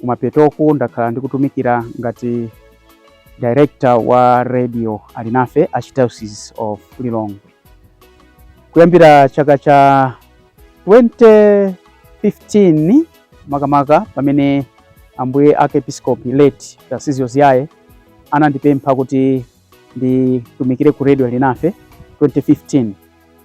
Kumapetoku ndakhala ndikutumikira ngati director wa Radio Alinafe Archdiocese of Lilongwe kuyambira chaka cha 2015 makamaka pamene ambuye archiepiskopi late Tarcisio Ziyaye anandipempha kuti nditumikire ku Radio Alinafe 2015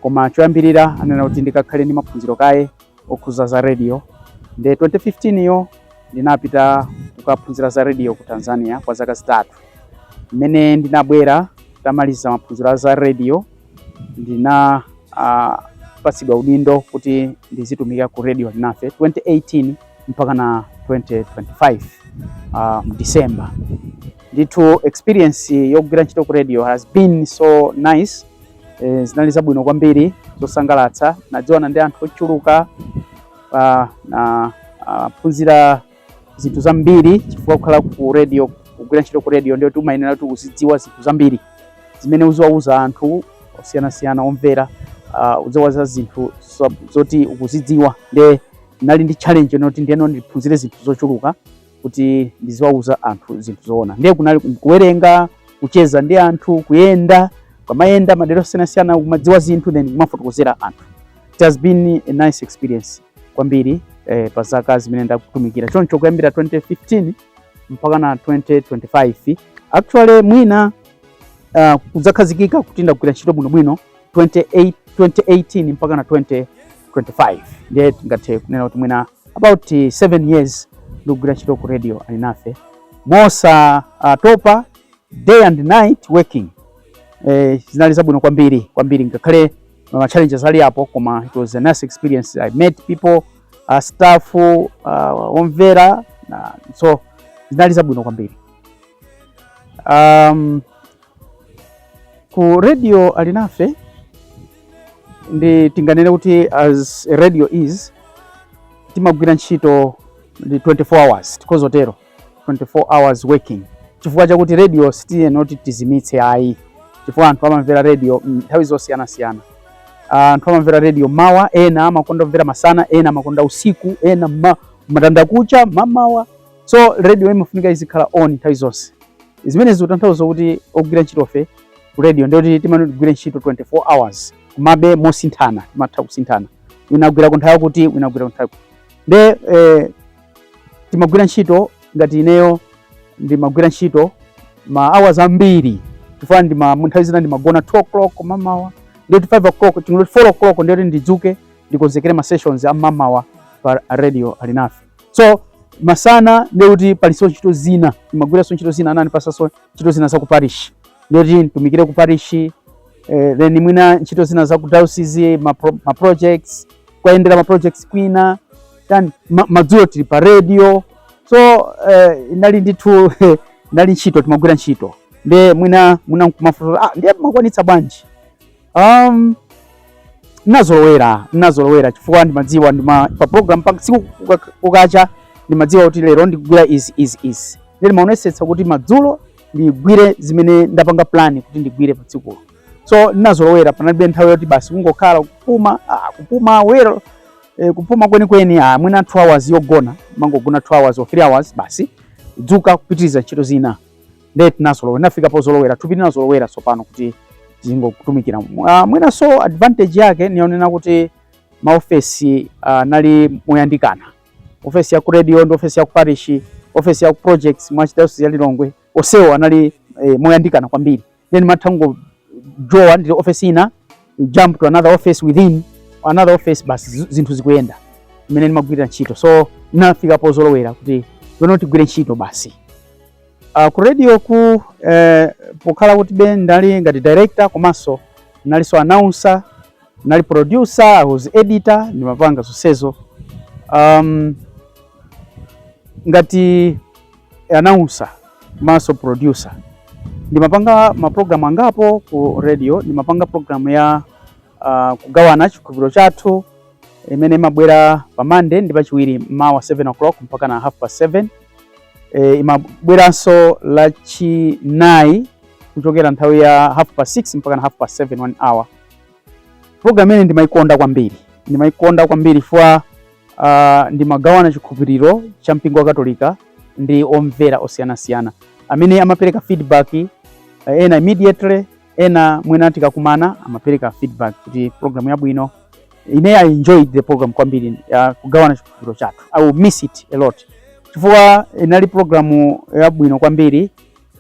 koma choyambirira anena kuti ndikakhale ndi maphunziro kaye okhuza za radio nde 2015 yo ndinapita kukaphunzira za radio ku tanzania kwa zaka zitatu mmene ndinabwera ntamaliza maphunziro a za radio ndina ah, patsidwa udindo kuti ndizitumikira ku Radio Alinafe 2018 mpaka na 2025 uh, mdisemba ndithu experience yogwira ntchito ku radio has been so nice eh, zinali zabwino kwambiri zosangalatsa nadziwana ndi anthu ochuluka ah, na ah, phunzira zinthu zambiri chifukwa kukhala ku radio kugwira ntchito ku radio ndiye kuti umayenera kuti uzidziwa zinthu zambiri zimene uziwauza anthu osiyanasiyana omvera ah, uziwauza zinthu zo- zoti ukuzidziwa nde nali ndi challenge yonena kuti ndiye ndiphunzire zinthu zochuluka kuti ndiziwauza anthu zinthu zoona. Ndiye kunali kuwerenga, kucheza ndi anthu, kuyenda, kumayenda madera osiyanasiyana, kumadziwa zinthu then kumafotokozera anthu. It has been a nice experience kwambiri eh, pa zaka zimene ndakhala ndikutumikira choncho kuyambira 2015 mpaka na 2025 actually mwina uh, kudzakhazikika kuti ndagwira ntchito bwinobwino 28 2018 mpaka na 2025 ndiye tingathe kunena kuti mwina about 7 eh, years ndikugwira ntchito ku Radio Alinafe mosa uh, topa day and night working eh, zinali zabwino kwambiri kwambiri ngakhale eh, ma challenges ali apo koma it was a nice experience i met people uh, staff uh, omvera uh, so zinali zabwino kwambiri um, ku Radio Alinafe ndi tinganene kuti as a radio is timagwira ntchito ndi 24 hours tikhoza kutero 24 hours working chifukwa chakuti radio sitiyenera kuti tizimitse ayi chifukwa anthu amamvera radio mm, nthawi zosiyanasiyana Ah, anthu amamvera radio mmawa ena amakonda kumvera masana ena amakonda usiku ena ma, matandakucha mmamawa so radio imafunika izikhala on nthawi zonse zimene zikutanthauza kuti ogwira ntchitofe ku radio ndiye kuti timayenera tigwire ntchito 24 hours komabe mosinthana timatha kusinthana wina agwira ku nthawi yakuti wina agwira ku nthawi yakuti nde eh, timagwira ntchito ngati ineyo ndimagwira ntchito ma hours ambiri chifukwa ndi ma nthawi zina ndimagona 2 o'clock mmamawa ndiye 5 o'clock chingoti 4 o'clock ndiye kuti ndidzuke ndikonzekere ma sessions a mmamawa pa Radio Alinafe so masana ndiye kuti palinso ntchito zina ndimagwiranso ntchito zina anandipatsanso ntchito zina za ku parish ndiye kuti nditumikire ku parish eh, then mwina ntchito zina za ku diocese ma, pro, ma projects kuwayendera ma projects kwina tani ma, madzulo tili pa radio so eh, inali ndithu inali ntchito timagwira ntchito ndiye mwina mwina nkumafunsa ah ndiye mumakwanitsa bwanji Um, ndinazolowera ndinazolowera chifukwa ndimadziwa ndima pa program pa tsiku kukacha ndimadziwa kuti lero ndigwira izi izi izi ndiye ndimaonesetsa kuti madzulo ndigwire zimene ndapanga plan kuti ndigwire pa tsikulo so ndinazolowera panalibe nthawi yoti basi kungokhala kupuma ah, kupuma well eh, kupuma kweni kweni ah, mwina 2 hours yogona ndimangogona 2 hours or 3 hours basi dzuka kupitiriza ntchito zina ndiye tinazolowera ndinafika pozolowera thupi linazolowera tsopano kuti tingokutumikira uh, mwinanso advantage yake ndi yonena kuti maofesi uh, anali moyandikana ofesi ya ku radio ndi ofesi ya ku parish ofesi ya ku projects mu archdiocese ya Lilongwe onsewo anali eh, moyandikana kwambiri then umatha kungojowa mu ofesi ina you jump to another office within another office basi zi- zinthu zikuyenda imene ndimagwirira ntchito so ndinafika pozolowera kuti pano tigwire ntchito basi Uh, ku radio ku eh, pokhala kuti ndinali ngati director komanso ndinalinso announcer ndinali producer I was editor ndimapanga zonsezo um, ngati announcer komanso producer ndimapanga maprogramu angapo ku radio ndimapanga programu ya uh, kugawana chikhulupiriro chathu imene imabwera pa Monday ndi pa lachiwiri mmawa 7 o'clock mpaka na half past 7 e, imabweranso lachinayi kuchokera nthawi ya half past 6 mpaka na half past 7 one hour. Program imene ndimaikonda kwambiri ndimaikonda kwambiri chifukwa uh, ah, ndimagawana chikhulupiriro cha mpingo wa Katolika ndi omvera osiyanasiyana amene amapereka feedback eh, ena immediately ena mwina tikakumana amapereka feedback kuti program yabwino ine I enjoyed the program kwambiri ya kugawana chikhulupiriro chathu I will miss it a lot chifukwa inali programu yabwino kwambiri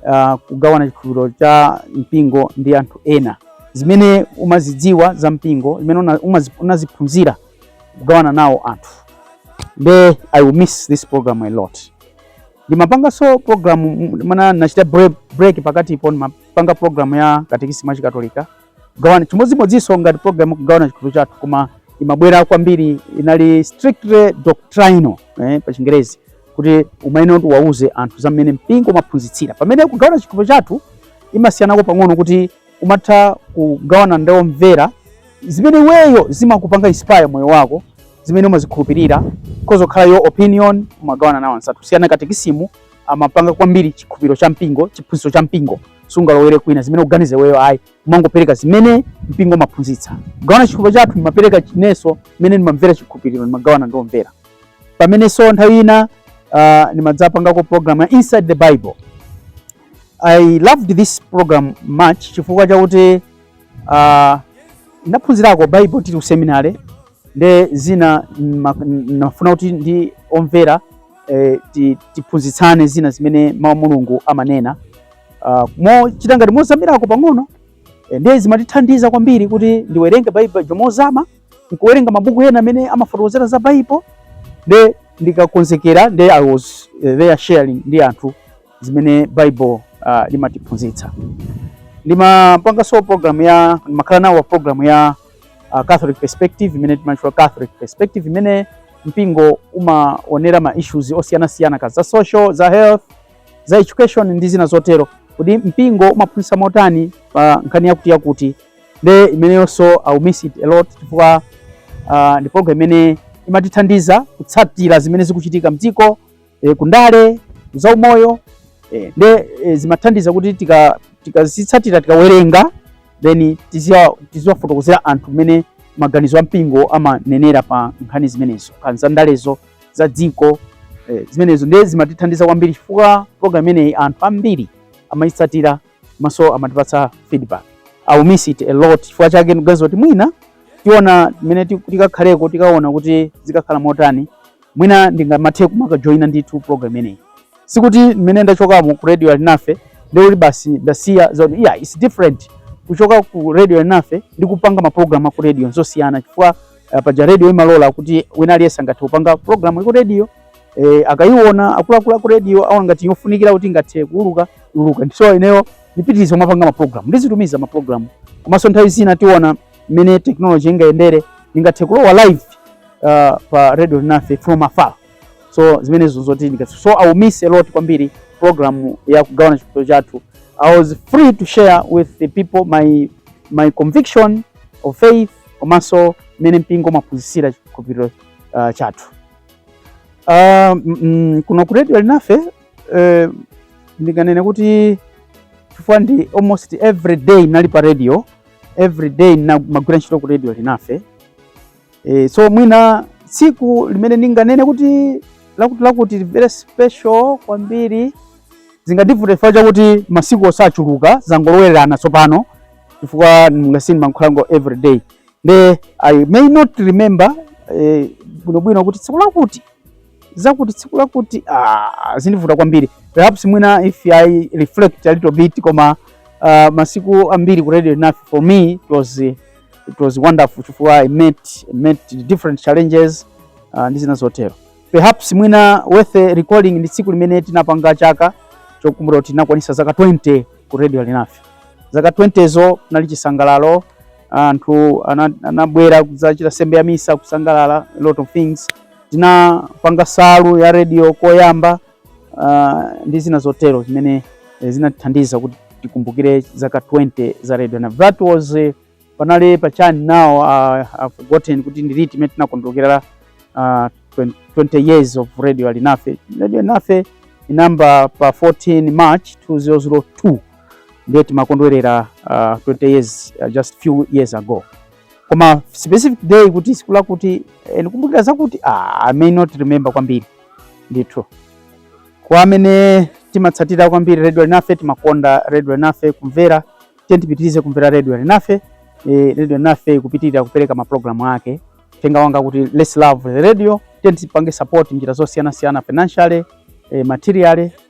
uh, kugawana chikhulupiriro cha mpingo ndi anthu ena zimene umazidziwa za mpingo zimene una- umazi- unaziphunzira kugawana nawo anthu nde I will miss this program a lot ndimapanganso program ngakhale ndinachita break, break pakatipo ndima- panga program ya katekisimu ya Chikatolika chimodzimodzinso ngati program ya kugawana chikhulupiriro chathu koma imabwera kwambiri inali strictly doctrinal eh, pa chingerezi kuti umayenera kuti wauze anthu za mmene mpingo umaphunzitsira pamene kugawana chikhulupiriro chathu imasiyanako pang'ono kuti umatha kugawana ndi omvera zimene iweyo zimakupanga inspire moyo wako zimene umazikhulupirira kuzakhala your opinion umagawana nawo anzathu kusiyana katekisimu imapanga kwambiri chikhupiro cha mpingo, chiphunzitso cha mpingo. Sungalowere kwina zimene ukuganiza iweyo ayi, umangopereka zimene mpingo umaphunzitsa. Kugawana chikhupiro chathu ndimapereka chinenso mmene ndimamvera chikhupiriro, ndimagawana ndi omvera. Pamenenso nthawi ina uh, ndimadzapangako program ya Inside the Bible. I loved this program much chifukwa chakuti uh, ndaphunzirako Bible tili ku seminary nde zina ndimafuna kuti ndi omvera eh, tiphunzitsane zina zimene mawu a Mulungu amanena uh, mochita ngati mozamirako pang'ono eh, nde zimatithandiza kwambiri kuti ndiwerenge Baibulo mozama nkuwerenga mabuku ena amene amafotokozera za Baibulo nde ndikakonzekera nde I was eh, there sharing ndi anthu zimene Baibulo uh, ah, limatiphunzitsa ndimapanganso program ya ndimakhala nawo program ya uh, Catholic perspective imene timatchula Catholic perspective imene mpingo umaonera ma issues osiyanasiyana kaya za social, za health, za education ndi zina zotero. Kodi mpingo umaphunzitsa motani pa nkhani yakuti yakuti? Nde imeneyonso I will miss it a lot chifukwa uh, ndi program imene imatithandiza kutsatira zimene zikuchitika mdziko e, ku ndale, za umoyo e, nde e, zimathandiza kuti tikazitsatira tika tikawerenga then tiziwafotokozera anthu mmene maganizo a mpingo amanenera pa nkhani zimenezo kaya za ndalezo za dziko e, zimenezo nde zimatithandiza kwambiri chifukwa program imeneyi anthu ambiri amayitsatira komanso amatipatsa feedback I will miss it a lot chifukwa chake ndikuganiza kuti mwina tiona mmene tikakhaleko tikaona kuti zikakhala motani Mwina ndingathe kumakajoina ndithu program imeneyi. Sikuti mmene ndachokamo ku Radio Alinafe ndekuti basi ndasiya zonse. Yeah, it's different kuchoka ku Radio Alinafe ndi kupanga maprogramu aku radio nzosiyana chifukwa uh, paja radio imalola kuti wina aliyense angathe kupanga programu ya ku radio eh, akayiona akuluakulu aku radio akaona ngati yofunikira kuti ingathe kuuluka iuluka. So ineyo ndipitiriza kumapanga maprogramu ndizitumiza maprogramu komanso nthawi zina tiona mmene technology ingayendere ndingathe kulowa live uh, pa radio alinafe from afar so zimenezo zoti ndingathe so i will miss a lot kwambiri program ya kugawana chikhulupiriro chathu i was free to share with the people my my conviction of faith komanso mmene mpingo umaphunzitsira chikhulupiriro uh, chathu uh, mm, kuno ku radio alinafe uh, ndinganene kuti chifukwa ndi almost every day nali pa radio every day ndimagwira ntchito ku radio alinafe e, so mwina tsiku limene ndinganene kuti lakuti lakuti very special kwambiri zingandivute chifukwa chakuti masiku wo achuluka zangolowererana tsopano chifukwa mungati ndimakhalako every day nde i may not remember eh, bwinobwino kuti tsiku lakuti zakuti tsiku lakuti ah, zindivuta kwambiri perhaps mwina if i reflect a little bit koma uh, masiku ambiri ku radio alinafe for me it was, it was wonderful chifukwa i met, met different challenges uh, ndi zina zotero perhaps mwina worth recalling ndi tsiku limene tinapanga chaka chokumbukira kuti tinakwanisa zaka 20 ku radio alinafe zaka 20 zo kunali chisangalalo anthu anabwera anadzachita nsembe ya misa kusangalala a lot of things Tinapanga nsalu ya radio koyamba uh, ndi zina zotero zimene eh, zinatithandiza kuti tikumbukire zaka 20 za radio na that was eh, panali pa chani now uh, I've forgotten kuti ndi liti limene tinakondwerera uh, 20 years of radio alinafe radio alinafe inayamba pa 14 march 2002 ndiye timakondwerera uh, 20 years uh, just few years ago koma specific day kuti tsiku lakuti eh, ndikumbukira zakuti ah, I may not remember kwambiri ndithu kwa amene timatsatira kwambiri Radio Alinafe timakonda Radio Alinafe kumvera tiyeni tipitirize kumvera Radio Alinafe eh, Radio Alinafe ipitirira kupereka maprogramu ake uthenga wanga kuti let's love the radio tiye tipange support njira zosiyanasiyana financially eh, materially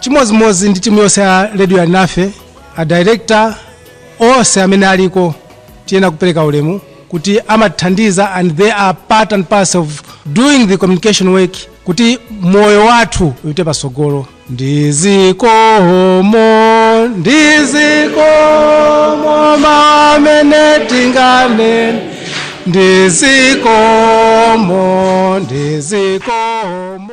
chimodzimodzi ndi timu yonse ya radio alinafe a director onse amene aliko tiyenera kupereka ulemu kuti amathandiza and they are part and parcel of doing the communication work kuti moyo wathu upite patsogolo ndizikomo ndizikomo mmene tinganene ndizikomo ndizikomo